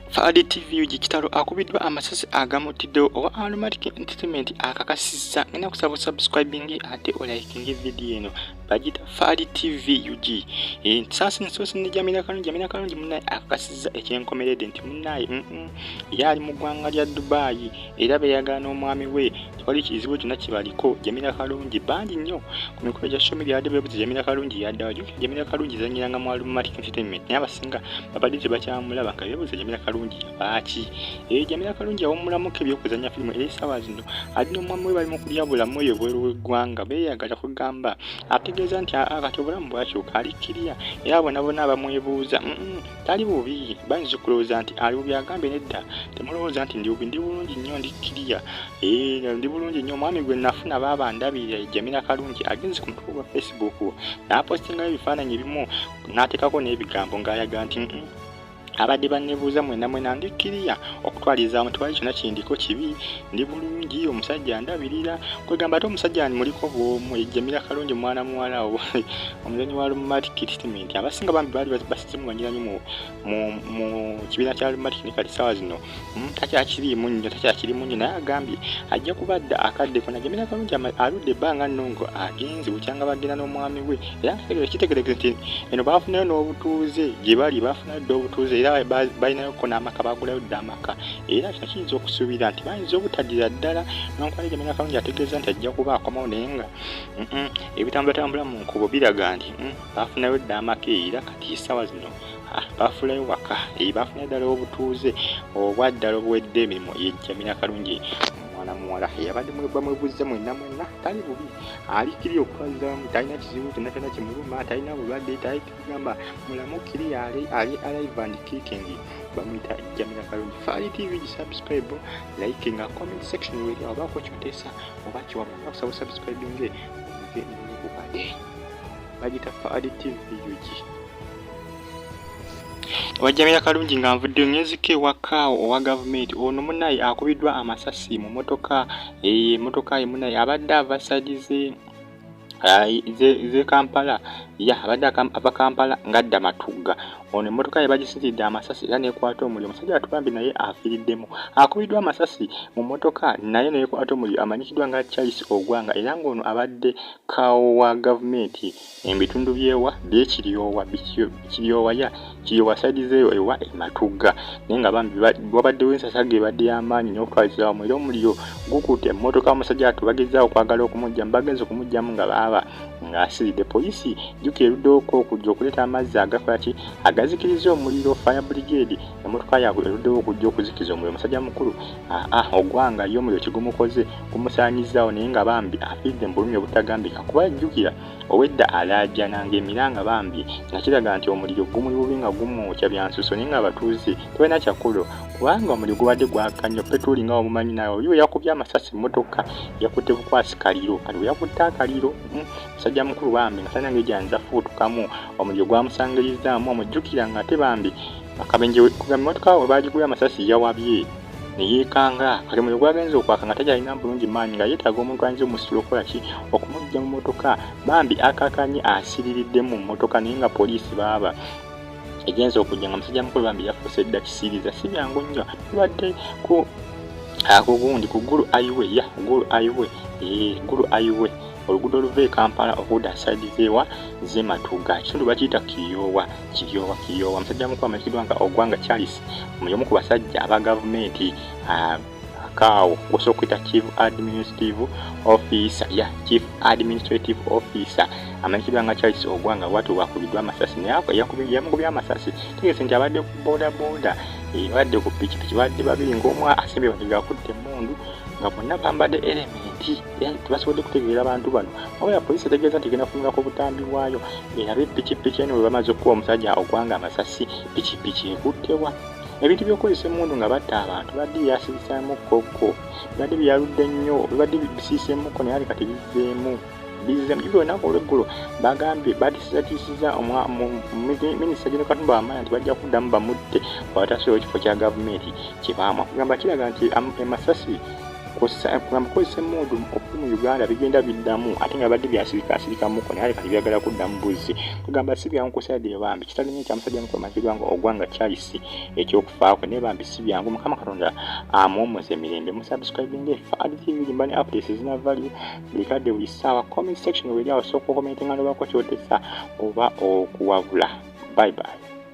Fahadi TV UG Kitalo akubiddwa amasasi agamuttiddewo owa Aromatic Entertainment akakasizza ngenda kusaba subscribing ate olayikinge vidiyo eno bagita Fahadi TV UG ensasi nsoosi ne Jamila Kalungi Jamila Kalungi munnaye akakasizza ekyenkomeredde nti munnaye yali mu ggwanga lya Dubai era beyagala n'omwami we tewali kizibu kyonna kibaliko jamira kalungi bangi nnyo ku mikolo gya social media yadde bebuza jamira kalungi yaddawa jukira jamira kalungi zanyiranga mu alumatic entertainment naye abasinga babadde tebakyamulaba nga bebuza jamira kalungi yabaaki ee eh, jamira kalungi yawumulamuko ebyokuzanya firimu era esaawa zino ali n'omwami we bali mu kulya bulamu eyo bweru w'eggwanga beeyagala kugamba ategeeza nti akati obulamu bwakyuka alikkiriya era bonabona abamwebuuza tali bubi bayinza okulowooza nti ali bubi agambye nedda temulowooza nti ndi bubi ndi bulungi nnyo ndi kiriya eh, ndi bulungi nnyo omwami gwe nafuna baaba ndabirira ejamira kalungi agenze ku mutuku gwa facebook n'apostingayo ebifaananyi ebimu n'ateekako n'ebigambo ng'ayaga nti abadde bannebuuza mwena mwena ndi kiriya okutwaliza mu tewali kyona kindiko kibi ndi bulungi omusajja ndabirira kwegamba ate omusajja ni muliko bwomu ejjamira kalungi omwana muwala omuzanyi wa lumati kiristimenti abasinga bambi baali simumanyira nyo mu kibiina kya lumatic ne kati sawa zino hmm, takyakiriimu nyo takyakirimu nyo naye agambye ajja kuba adda akadde kona jamira kalungi aludde ebbanga nno nga agenze bukyanga bagenda n'omwami we era kitegerekeze nti eno baafunayo n'obutuuze gye bali baafunayo dda obutuuze era balinayo ko n'amaka baagulayo dda amaka era kino kiyinza okusuubira nti bayinza obutaddira ddala nonkwali jamira kalungi ategeeza nti ajja kuba akomawo naye nga ebitambulatambula mu nkubo biraga nti hmm, bafunayo dda amaka era kati esawa zino ah, bafulayo waka eh, bafuna ddala obutuuze obwaddala obuwedde emirimu yejjamira kalungi omwana muwala yabadde mwebamwebuzze mwenna mwenna tali bubi alikiri okutwalizamu talina kizibu kyonna kyonna kimuluma talina bulwadde taigamba mulamu kiri ali ali alive and kicking bamuyita jamira kalungi faali tv gisubscribe like nga comment section weri obaako kyoteesa oba kiwamu nakusaba subscribinge oge nokubade bagita fa additive ug wajjamira kalungi nga nvudde ngenzika ewaka owa gavumenti ono munaye akubiddwa amasasi mu motoka eye eh, motoka ye munaye abadde ava side ze ze kampala ya abadde ava kampala ngadda matugga ono emotoka ye bagisitidde amasasi era nekwata omuliro omusajja atubambi naye afiriddemu akubiddwa amasasi mu motoka naye nekwata omuliro amanyikiddwa nga charles ogwanga era ngaono abadde Kaawo wa gavumenti embitundu byewa byekiryowa kiryowa ya kiryowa side zeyo ewa ematugga naye nga bambi wabaddewo ensasa gebadde yamaanyi nokutwaliza wamu era omuliro gukutte emmotoka omusajja atu bagezza okwagala okumujja bagenza okumujjamu nga baaba ng'asiridde poliisi jjuka eruddeoko okujja okuleeta amazzi agakola ki agazikiriza omuliro fire brigade emmotoka yaabwe eruddewo okujja okuzikiza omuliro omusajja mukulu aa ah, ah, ogwanga ye omuliro kigumukoze gumusaanyizaawo naye nga bambi afidde mu bulumi obutagambika kuba jjukira obwedda alaajana ng'emiranga bambi nga kiraga nti omuliro gumuli bubi nga gumwokya byansuso naye ng'abatuuze tebalina kyakulo kubanga omuliro gubadde gwaka nnyo petuuli nga wamumanyi nawe oli weyakubye amasasi emmotoka yakutte bukwasi kaliro kati weyakutte akaliro hmm, musajja mukulu bambi nga talina ngeri gyanza fuutukamu omuliro gwamusangirizzaamu omujjukira nga ate bambi Akabenje kugamba emmotoka we baagigula amasasi yawabye ne yeekanga kati omuliro gwagenze okwaka nga takyalina bulungi maanyi nga yeetaaga omuntu ayinza omusitula okukola ki okumujja mu mmotoka bambi akakanye asiririddemu mu mmotoka naye nga poliisi baaba egenza okujja nga musajja mukulu bambi yafuuse dda kisiiriza si byangu nnyo tubadde ku akugundi ku gulu aiwe ya gulu aiwe ee gulu aiwe oluguudo oluva e kampala okuda saidi zeewa zematuga kitundu bakiyita kiyoowa Kiryowa Kiryowa musajja mukulu amanyikiddwa nga Ogwanga Charles omu ku basajja aba gavumenti ah, Kaawo gw'osobola okuyita chief administrative officer ya chief administrative officer amanyikiddwa nga charles ogwanga bwati bwakubiddwa amasasi naye yamukubye amasasi tegese nti abadde ku bodaboda eh, badde ku pikipiki badde babiri ngaomu asembye bati gakutte emundu nga bonna bambadde elementi era tebasobodde kutegeera abantu bano wabula poliisi etegeeza nti egenda kutunula ku butambi bwayo erabe pikipiki eno bwe bamaze okukuba omusajja ogwanga amasasi pikipiki ekuttewa ebintu by'okukozesa emmundu nga batta abantu bibadde byasibisamu kokko bibadde byaludde nnyo bibadde bisiisemukko naye ali kati bizzeemu bizze mujubira olunaku olweggulo bagambye batisizatiisiza minisita geno katumba wamanya nti bajja kuddamu bamutte watasobola ekifo kya gavumenti kyebaamwa kugamba kiraga nti amasasi um, kw'ossa eggamba kozesa emmundu okuli mu uganda bigenda biddamu ate nga badde byasirika asirika muko naye kati byagala kuddamu buzzi kugamba si byangu kusaidire bambi kitalinye kya musajja mukulu mazirwa nga ogwa nga kyalisi ekyokufaako naye bambi si byangu mukama katonda amuwumuza emirembe musubscribinga efa aditivi limba ne updates ezina value buli kadde buli ssaawa comment section weri awo sooka okomentinga nobako kyotesa oba okuwabula bye bye